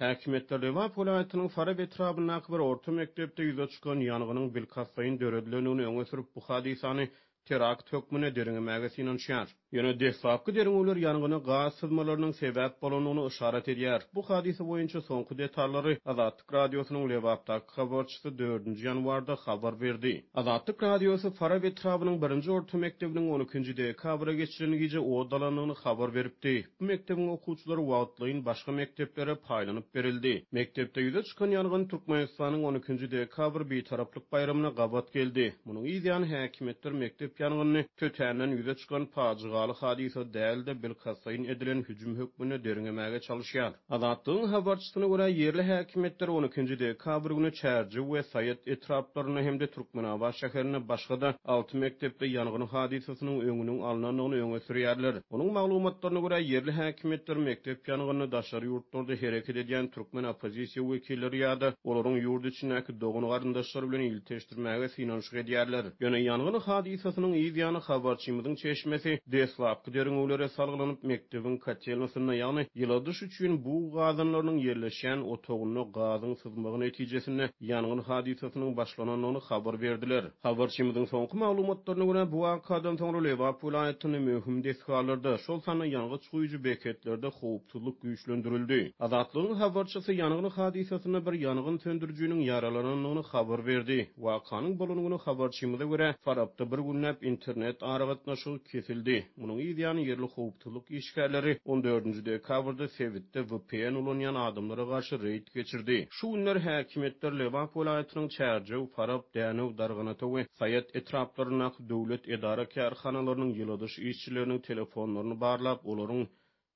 Häkimiýetler Lebap welaýatynyň Farap etrabyndaky bir orta mekdepde ýüze çykan ýangynyň bilkastlaýyn döredilendigini öňe sürüp, bu hadysany terakt hökmünde derňemäge synanyşýar. Ýöne deslapky derňewler ýangyna gaz syzmalarynyň sebäp bolandygyny yşarat edýär. Bu hadysa boýunça soňky detallary Azatlyk Azatlyk Radiosynyň Lebapdaky habarçysy dördünji ýanwarda habar berdi. Azatlyk Radiosy Farap etrabynyň birinji orta mekdebiniň on ikinji dekabra geçiren gije ot alandygyny habar beripdi. Bu mekdebiň okuwçylary wagtlaýyn başga mekdeplere paýlanyp berildi. Mekdepde ýüze çykan ýangyn Türkmenistanyň on ikinji dekabr Bitaraplyk baýramyna gabat geldi. Munuň yzýany häkimiýetler mekdep ýangynyny tötänden ýüze çykan pajygaly hadysa däl-de, bilkastlaýyn edilen hüjüm hökmünde derňemäge çalyşýar. Azatlygyň habarçysyna görä, ýerli häkimiýetler on ikinji dekabr güni Çärjew we Saýat etraplarynda hem-de Türkmenabat şäherinde başga-da alty mekdepde ýangyn hadysasynyň öňüniň alnandygyny öňe sürýärler. Onuň maglumatlaryna görä, ýerli häkimiýetler mekdep ýangynyny daşary ýurtlarda hereket edýän türkmen oppozisiýa wekilleri ýa-da olaryň ýurt içindäki dogan-garyndaşlary bilen ilteşdiklerini Öçürmäge synanyşyk edýärler. Ýöne ýangyn hadysasynyň yz ýany habarçymyzyň çeşmesi deslapky derňewlere salgylanyp, mekdebiň kotelnasynda, ýagny ýyladyş üçin bug gazanlarynyň ýerleşýän otagynda gazyň syzmagy netijesinde ýangyn hadysasynyň başlanandygyny habar berdiler. Habarçymyzyň soňky maglumatlaryna görä, bu wakadan soňra Lebap welaýatynda möhüm desgalarda, şol sanda ýangyç guýujy beketlerde howpsuzlyk Howpsuzlyk güýçlendirildi. Azatlygyň habarçysy ýangyn hadysasynda bir ýangyn söndürijiniň ýaralanandygyny habar berdi. Wakanyň bolan güni habarçymyza görä, Farapda bir günläp internet aragatnaşygy kesildi. Munuň yzýany ýerli howpsuzlyk işgärleri on dördünji dekabrda sebitde vpn ulanýan adamlara garşy reýd geçirdi. Şu günler häkimiýetler Lebap welaýatynyň Çärjew, Farap, Dänew, Darganata we Saýat etraplaryndaky döwlet edara-kärhanalarynyň ýyladyş işçileriniň telefonlaryny barlap, olaryň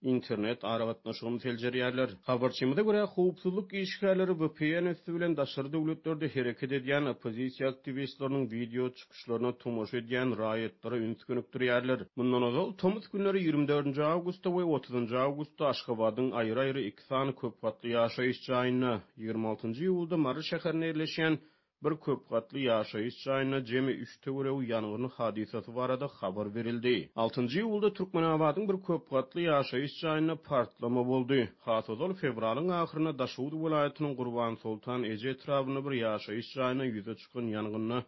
internet aragatnaşygyny seljerýärler. Habarçymyza görä, howpsuzlyk işgärleri vpn üsti bilen daşary döwletlerde hereket edýän oppozisiýa aktiwistleriniň wideo çykyşlaryna tomaşa edýän raýatlara üns gönükdirýärler. Mundan ozal, tomus günleri ýigrimi dördünji awgustda we otuzynjy awgustda Aşgabadyň aýry-aýry iki sany köp gatly ýaşaýyş jaýynda, ýigrimi altynjy iýulda Mary şäherinde ýerleşýän Bir köp gatly ýaşaýyş jaýynda jemi üç töweregi ýangyn hadysasy barada habar berildi. Altynjy iýulda Türkmenabadyň bir köp gatly ýaşaýyş jaýynda partlama boldy. Has ozal, fewralyň ahyrynda Daşoguz welaýatynyň Gurbansoltan eje etrabynda bir ýaşaýyş jaýynda ýüze çykan ýangynda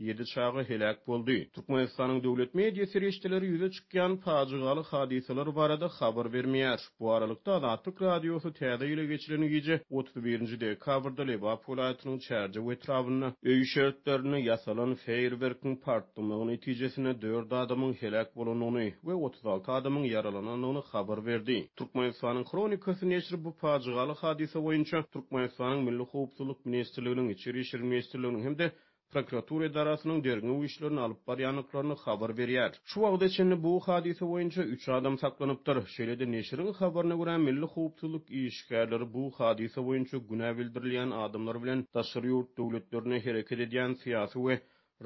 ýedi çaga heläk boldy. Türkmenistanyň döwlet media serişdeleri ýüze çykýan pajygaly hadysalar barada habar bermeýär. Bu aralykda, Azatlyk Radiosy Täze ýyla geçilen gije, otuz birinji dekabrda Lebap welaýatynyň Çärjew etrabynda, öý şertlerinde ýasalan feýerwerkiň partlamagy netijesinde dört adamyň heläk bolandygyny we otuz alty adamyň ýaralanandygyny habar berdi. Türkmenistanyň Hronikasy neşri bu pajygaly hadysa boýunça Türkmenistanyň Milli howpsuzlyk ministrliginiň, Içeri işler ministrliginiň hem-de prokuratura edarasynyň derňew işlerini alyp barýandyklaryny habar berýär. Şu wagta çenli bu hadysa boýunça üç adam saklanypdyr. Şeýle-de neşiriň habaryna görä, milli howpsuzlyk işgärleri bu hadysa boýunça günä bildirilýän adamlar bilen daşary ýurt döwletlerinde hereket edýän syýasy we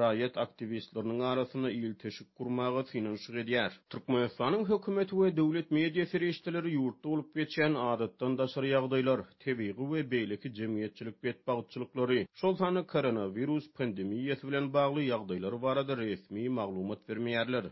raýat aktiwistleriniň arasynda ilteşik gurmaga synanyşyk edýär. Türkmenistanyň hökümeti we döwlet media serişdeleri ýurtda bolup geçýän adatdan daşary ýagdaýlar, tebigy we beýleki jemgyýetçilik betbagtçylyklary, şol sanda koronawirus pandemiýasy bilen bagly ýagdaýlar barada resmi maglumat bermeýärler.